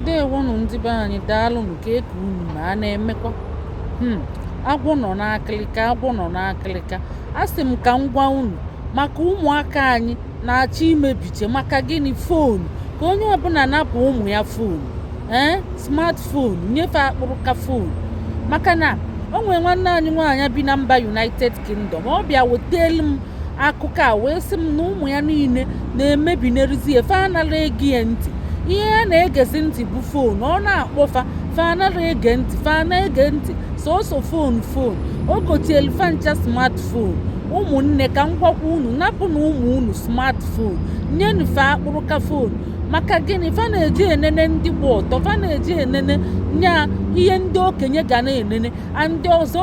ndewonụ ndị be anyị daalụnụ kee ka unu ma a na-emekwa hmm, agwọ nọ n'akịlịka agwọ nọ n'akịlịka a sị m ka m gwa unu maka ụmụaka anyị na-achọ imebiche maka gịnị foonu ka onye ọbụla napụ ụmụ ya foonu ee eh, smartphone nyefe akpụrụka foonu maka na o nwere nwanne anyị nwaanyị bi na mba united kingdom ọ bịa wetelu m akụkọ a wee sị m na ụmụ ya niile na-emebinarịzi ya fa anara ege nya ntị ihe fa na-egezi ntị bụ foonu ọ na-akpọ fa fa anara ege ntị fa na-ege ntị sọsọ foonu foonu o gotelu fa ncha smartphone ụmụnne ka m gwakwa unu napụnụ ụmụ unu smartphone nyenụ fa akpụrụka foonu maka gịnị fa na-eji enene ndị gba ọtọ fa na-eji enene nya ihe ndị okenye ga na-enene and ọzọ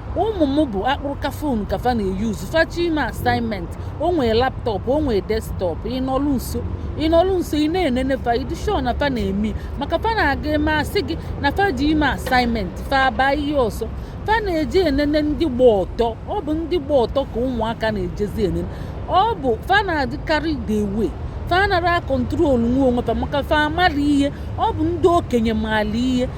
ụmụ m bụ akpụrụka fon ka fa na-eyuzu fa chọọ ime assignment o nwee laptop o nwee desktop ị nọlụ nso ị nọlụ nso ị na-enene fa ị dị sure na fa na-eme maka fa na-aga eme asị gị na fa ji eme assignment fa abaa ihe ọzọ fa na-eji enene ndị gba ọtọ ọ bụ ndị gba ọtọ ka ụmụaka na-ejezi enene ọ bụ fa na-adịkarị the way fa anara akọntrolnwu onwe fa maka fa amara ihe ọ bụ ndị okenye maalụ ihe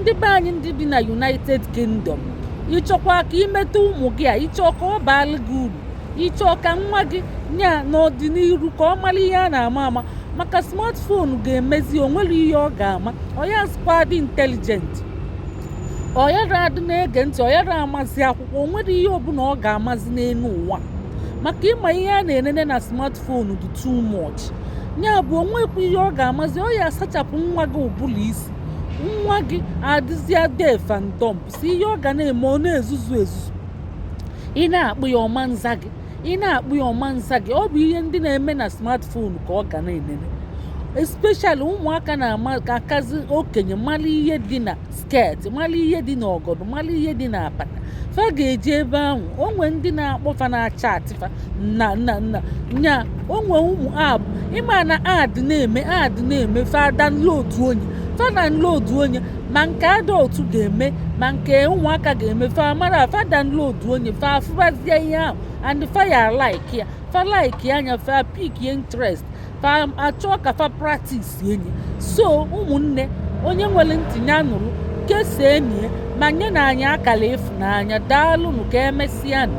ndị be anyị ndị bi na united kingdom ị chọkwaa ka i meta ụmụ gị a ị chọọ ka ọ baalụ gị uru ị chọọ ka nwa gị nya n'ọdịnihu ka ọ mara ihe a na-ama ama maka smartphone ga-emezi o nwere ihe ọ ga-ama ọ yazịkwa adị intelligent ọ yara adị na-ege ntị ọ yara amazi akwụkwọ o nwere ihe ọbụla ọ ga-amazi n'elu ụwa maka ị ma ihe a na-enene na smartphone fonu dị too much nya bụ o nwekwa ihe ọ ga-amazi ọ ya asachapụ nwa gị ụbụlụ isi nwa gị adịzịa deaf and dumb sọ ihe ọ ga na-eme ọ na-ezuzu ezuzu ị na-akpọ ya ọ ma nza gị ị na-akpọ ya ọ ma nza gị ọ bụ ihe ndị na-eme na smartphone ka ọ ga na-enene especially ụmụaka na-akazi okenye mara ihe dị na skirt mara ihe dị n'ọgọdọ mara ihe dị n'apata fa ga-eji ebe ahụ o nwee ndị na-akpọ fa na-achat fa na na na nya o nwee ụmụ app ị ma na ad na-eme ad na-eme fa downloaduo nya fa downloaduo nya ma nke adult ga-eme ma nke ụmụaka ga-eme fa mara fa downloaduo nya fa afụbazie ihe ahụ and fa ya like ya fa likea nya fa pick interest fa achọọ ka fa practise nya so ụmụnne onye nwere ntị nya nụrụ kesaa enyi ya ma nyenụ anyị akara ịfụnanya daalụnụ ka emesịa nụ